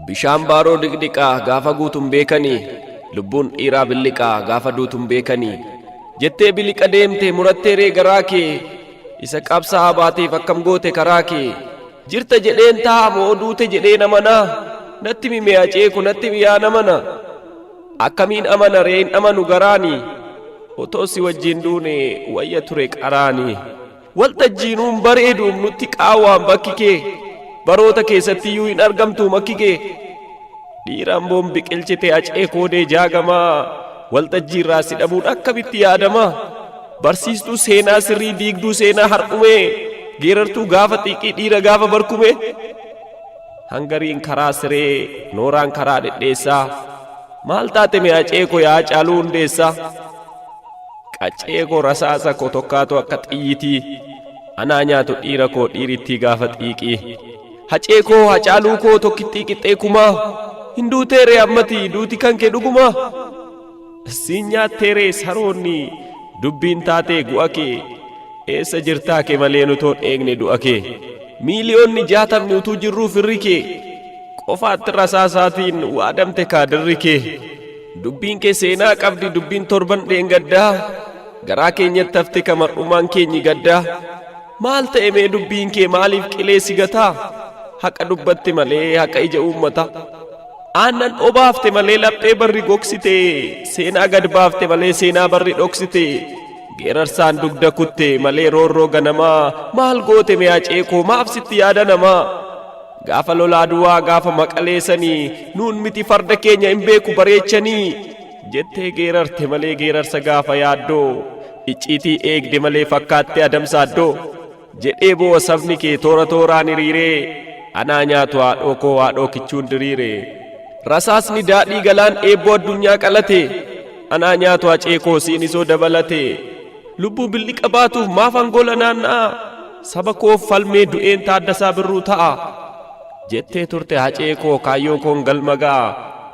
Bishaan baaroo dhiqdhiqaa gaafa guutun beekanii lubbuun dhiiraa billiqaa gaafa duutun beekanii jettee biliqa deemte murattee ree garaa kee isa qabsaa'aa baateef akkam goote karaa kee jirta jedheen taa'a moo duute jedheen amanaa natti mimee aceeku natti miyaa namana akkamiin amana ree hin amanu garaani otoo si wajjin duune wayya ture qaraani. Waltajjii nuun bareeduun nutti qaawwaan bakki kee baroota keessatti iyyuu hin argamtu makki kee dhiiraan boon biqilchite acee koodee jaagamaa waltajjii irraa si dhabuun akkamitti yaadama barsiistuu seenaa sirrii diigduu seenaa har'umee geerartuu gaafa xiiqii dhiira gaafa barkume hangariin karaa siree nooraan karaa dhedheessaa maal taate mee acee koo yaa caaluu hundeessaa Qaccee koo rasaasa koo tokkaatu akka xiyyitii anaa nyaatu dhiira koo dhiirittii gaafa xiiqii. Hacee koo hacaaluu koo tokkittii qixxee kumaa hin duuteeree ammati duuti kan kee dhugumaa. Siin nyaatteeree saroonni dubbiin taatee gu'a kee eessa jirtaa kee malee nutoon eegne du'a kee. Miiliyoonni jaatamni utuu jirruu firri kee qofaatti rasaasaatiin waadamte kaadirri kee. Dubbiin kee seenaa qabdi dubbiin torban dheengaddaa garaa keenyatti hafte ka mar'ummaan keenyi gaddaa maal ta'e mee dubbiin kee maaliif qilee si gataa haqa dubbatte malee haqa ija uummataa aannan obaafte malee laphee barri gogsite seenaa gad baafte malee seenaa barri dhoksite geerarsaan dugda kutte malee roorroo ganamaa maal goote mee acee koo maaf sitti yaada namaa Gaafa lola Aduwaa gaafa Maqalee sanii nuun miti farda keenya hin beeku bareechanii jettee geerarte malee geerarsa gaafa yaaddoo icciitii eegde malee fakkaattee adamsaaddoo jedhee boo'a sabni kee toora tooraan hiriiree anaa nyaatu haadhoo koo haadhoo kichuun diriire rasaasni daadhii galaan eebboo addunyaa qalate anaa nyaatu hacee koo siinisoo dabalate. Lubbuu billiqa baatuuf maafan gola naanna'aa? Saba koof falmee du'een Taaddasaa Birruu ta'a. Jettee turte hacee koo kaayyoo koon galma ga'a.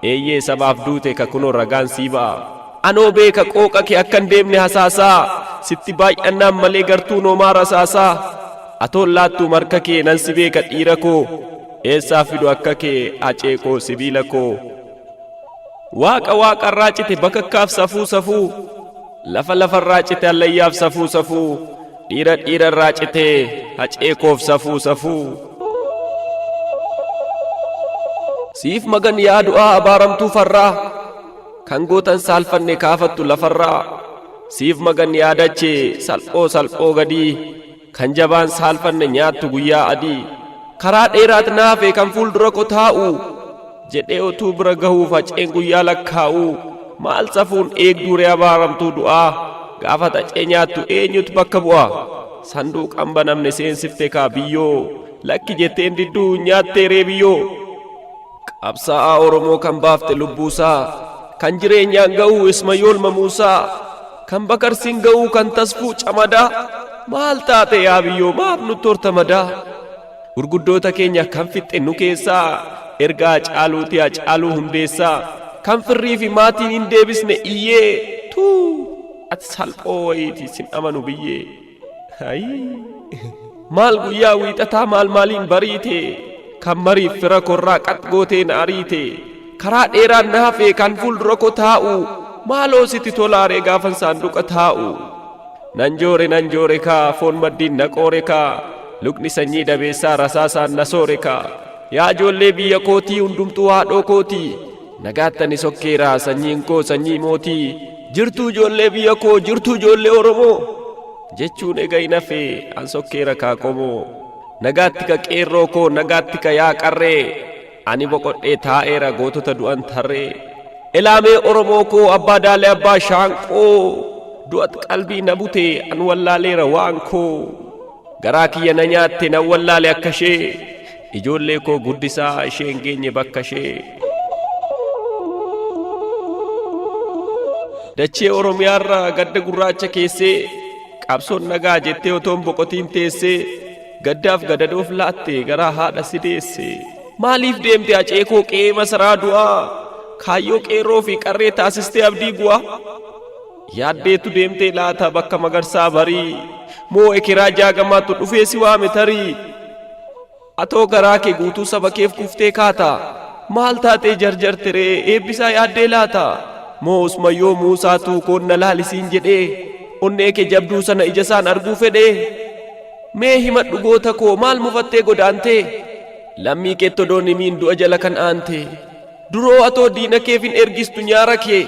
Eeyyee sabaaf duute ka kunoo ragaan sii ba'a. Anoo beeka qooqa kee akkan deemne hasaasaa. Sitti baay'annaan malee gartuu noomaa rasaasaa. Atoon laattuum harka kee nan si beeka dhiira koo. Eessaa fidu akka kee hacee koo sibiila koo. Waaqa waaqarraa cite bakakkaaf safuu safuu. Lafa lafarraa cite hallayyaaf safuu safuu Dhiira dhiira irraa cite hacee koof safuu safuu Siif magan yaa du'aa abaaramtuu farraa Kan gootan saalfanne kaafattu lafarraa Siif magan yaa dachee salphoo salphoo gadii Kan jabaan saalfanne nyaattu guyyaa adii. Karaa dheeraat naafe kan fuuldura ko taa'u. Jedhee otuu bira gahuu faceen guyyaa lakkaa'u. Maal safuun eegduu ree abaaramtuu du'aa. Gaafa xacee nyaattu eenyutu bakka bu'a. Sanduuqan banamne seensifte kaa biyyoo. Lakki jetteen didduu nyaattee ree biyyoo. Qabsaa'aa Oromoo kan baafte lubbuusaa Kan jireenyaan ga'uu Ismayool Mamuusaa Kan bakarsiin ga'uu kan tasfuu camadaa Maal taate yaa biyyoo maaf nutti horta madaa Gurguddoota keenya kan fixxe nu keessaa Ergaa caaluuti yaa caaluu hundeessaa Kan firrii fi maatiin hin deebisne iyyee Tuu ati salphoo wayiiti sin amanu biyyee Maal guyyaa wiixataa maal maaliin bariite kan mariif fira korraa qax gootee na ariite karaa dheeraan na hafee kan fuuldura koo taa'u maaloo sitti tolaaree gaafan saanduqa taa'u nan joore nan joore kaa foon maddiin na qoore kaa lukni sanyii dabeessaa rasaasaan na soore kaa yaa ijoollee biyya kootii hundumtuu haadhoo kootii Nagaatti ani sokkeera sanyiin koo sanyii mootii. Jirtuu ijoollee biyya koo jirtuu ijoollee Oromoo. Jechuun ega hin hafe an sokkeera kaa qomoo. Nagaatti ka qeerroo koo nagaatti ka yaa qarree. Ani boqodhee taa'eera gootota du'an tarree. Elaamee Oromoo koo abbaa daalee abbaa shaanqoo. Du'at qalbii na bute an wallaaleera waan koo. Garaa kiyya na nyaatte nan wallaale akka ishee. Ijoollee koo guddisaa ishee hin geenye bakka ishee. Dachee Oromiyaarra gadda gurraacha keessee qabsoon nagaa jettee otoon boqotiin teessee gaddaaf gadadoof laatte garaa haadha si deesse. Maaliif deemte acee koo qe'ee masaraa du'aa kaayyoo qeerroo fi qarree taasistee abdii bu'aa. Yaaddeetu deemtee laata bakka magarsaa barii Moo ekeraa jaagamaatu dhufee si waame tarii Atoo garaa kee guutuu saba keef kuftee kaata Maal taatee jarjarte ree eebbisaa yaaddee laata Moo usmayyoo muusaatu koon na laalisiin jedhee Onnee kee jabduu sana ijasaan arguu fedhee Mee himadhu goota koo maal mufattee godaantee Lammii keetti odoon himiin du'a jala kan aantee Duroo atoo diina keef hin ergistu nyaara kee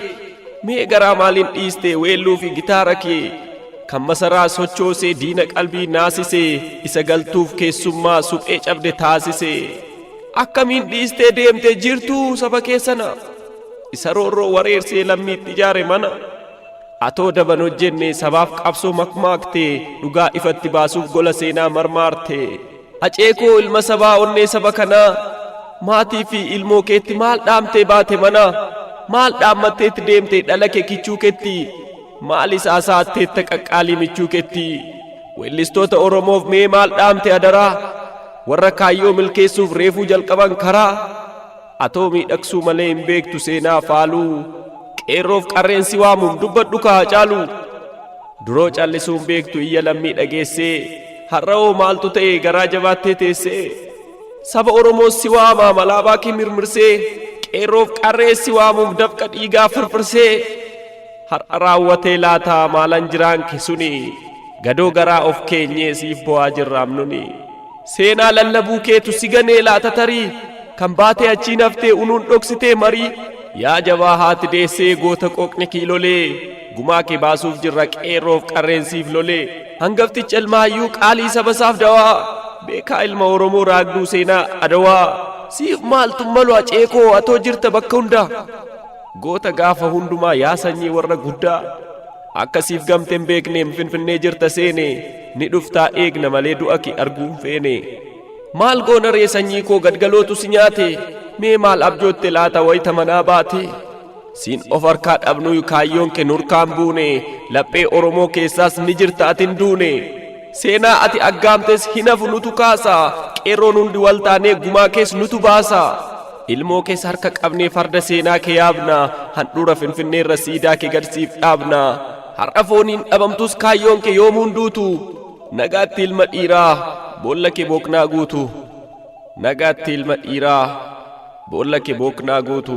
mee garaa maaliin dhiiste weelluu fi gitaara kee kan masaraa sochoosee diina qalbii naasise isa galtuuf keessummaa suphee cabde taasise akkamiin dhiistee deemte jirtuu saba kee sana isa roorroo wareersee lammiitti ijaare mana atoo daban hojjenne sabaaf qabsoo makmaakte dhugaa ifatti baasuuf gola seenaa marmaarte. Hacee koo ilma sabaa onnee saba kanaa maatii fi ilmoo keetti maal dhaamtee baate manaa maal dhaammatteetti deemte dhala kee kichuu keetti maal isaa saatteetta qaqqaalii michuu keetti weellistoota oromoof mee maal dhaamte adaraa warra kaayyoo milkeessuuf reefuu jalqaban karaa Atoo miidhagsuu malee hin beektu seenaa faaluu Qeerroof qarreen si waamuun dubbadhu ka Hacaaluu Duroo callisuun beektu iyya lammii dhageessee Har'awoo maaltu ta'e garaa jabaattee teessee Saba Oromoos si waamaa malaabaa kee mirmirsee Qeerroof qarree si waamuuf dafqa dhiigaa firfirsee Har'a raawwatee laataa maalan jiraan ke suni Gadoo garaa of keenyee siif bo'aa jirraam nuni. Seenaa lallabuu keetu si ganee laata tarii Kan baatee achiin haftee unuun dhoksitee marii Yaa jabaa haati deessee goota qooqni kiilolee Gumaa kee baasuuf jirra qeerroof qarreen siif lolee Hangafticha ilma hayyuu qaalii sabasaaf dawaa Beekaa ilma Oromoo raagduu seenaa Adawaa Siif maaltu malu Acee koo atoo jirta bakka hundaa Goota gaafa hundumaa yaa sanyii warra guddaa. Akka siif gamte hin beekneem finfinnee jirta seene ni dhuftaa eegna malee du'a kee arguu hin feene. Maal goona ree sanyii koo gadgalootu si nyaate mee maal abjootte laata wayita manaa baate. Siin of harkaa dhabnuyu kaayyoon kee nurkaan buune laphee Oromoo keessaas ni jirta atin duune. Seenaa ati aggaamtes hin hafu nutu kaasa Qeerroon hundi wal taanee gumaa kees nutu baasa Ilmoo kees harka qabnee farda seenaa kee yaabna Handhuura finfinneerra siidaa kee gad siif dhaabna Har'a fooniin dhabamtus kaayyoon kee yoomuu hin duutu Nagaatti ilma dhiiraa boolla kee booknaa guutu Nagaatti ilma dhiiraa boolla kee booknaa guutu.